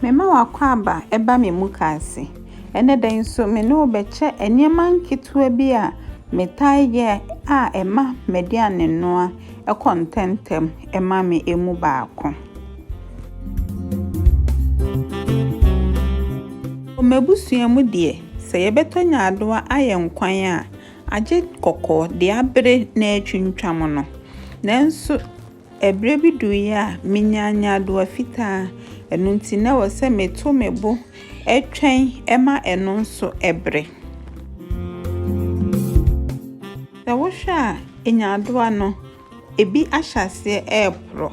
Mema w'akwaaba ba me mukaase. Ɛnnɛ da yi nso me ne wo bɛkyɛ nneɛma nketewa bi a metaa yɛ a ɛma m'aduanenoa kɔ ntɛmntɛm ma me emu baako. Wɔ m'abusua mu deɛ, sɛ yɛbɛtɔ nyaadoa ayɛ nkwan a, agye kɔkɔɔ de abere na atwintwam no. Nanso. Ɛberɛ bi duruiɛ a, menyaa nyaadoa fitaa. Ɛno nti, na ɛwɔ sɛ meto me bo twɛn ma ɛno nso bere. Sɛ wohwɛ a, nyaadoa no, ebi ahyɛ aseɛ reporɔ.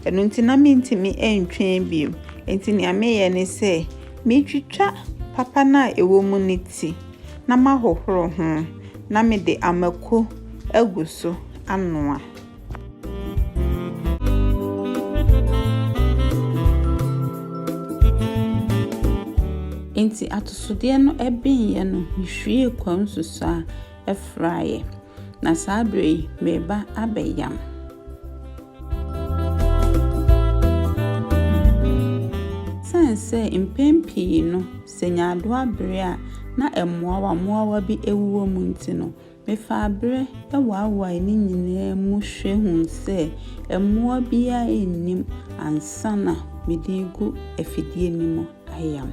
Ɛno nti, na mentumi ntwɛn bio. Enti deɛ meyɛ ne sɛ, metwitwa papa no a ɛwɔ mu no ti, na mahohoro ho, na mede mako agu so anoa. Enti atosodeɛ no ɛbenyɛ no, mehwie kwa nsusu a ɛfraeɛ, na saa berɛ yi mereba abɛyam. Sane sɛ mpɛn pii no sɛ nyaadoa bere a na mmoawa mmoawa bi awuwɔ mu nti no, Mefaa bere waewae no nyinaa mu hwɛ hui sɛ mmoa biara nnim ansa na mede regu afidie no mu ayam.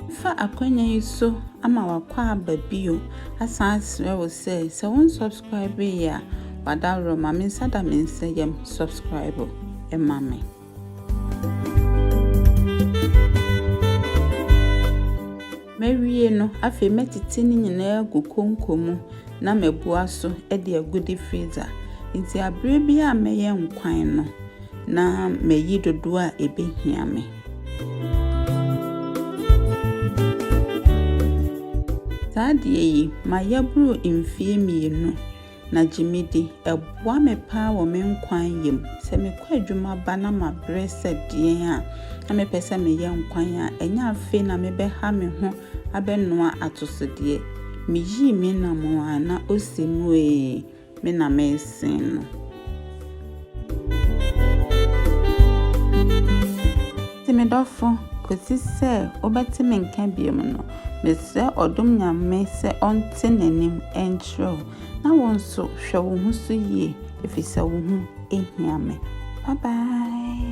Mɛfa akwanya yi so ama wakɔ aba bio asan asrɛ wo sɛ sɛ wo nsubscribe yɛ a wadaworɔ ma me nsa da me nsa yam subscribe ma me. Mawie no, afei mɛtete ne nyinaa agu konko mu na mabua so de agu de freezer. Nti abere bi a mɛyɛ nkwan no, na mayi dodoɔ a ɛbɛhia me. Saa adeɛ yi, mayɛ boro mfeɛ mmienu. na gye me di. Ɛboa me paa wɔ me nkwa yɛ mu. Sɛ mekɔ adwuma ba na mabrɛ sɛ deɛn a, na mepɛ sɛ meyɛ nkwan a, ɛnyɛ afei na mebɛha me ho abɛnoa atosodeɛ. Meyii me nam a na ɔsi mu ee, me na mesen no. Enti me dɔfo, kosi sɛ wobɛte me nka bio no, mesrɛ ɔdom Nyame sɛ ɔnte n'anim nkyerɛ wo, na wo nso hwɛ wo ho so yie, efisɛ wo ho hia me. Bye bye.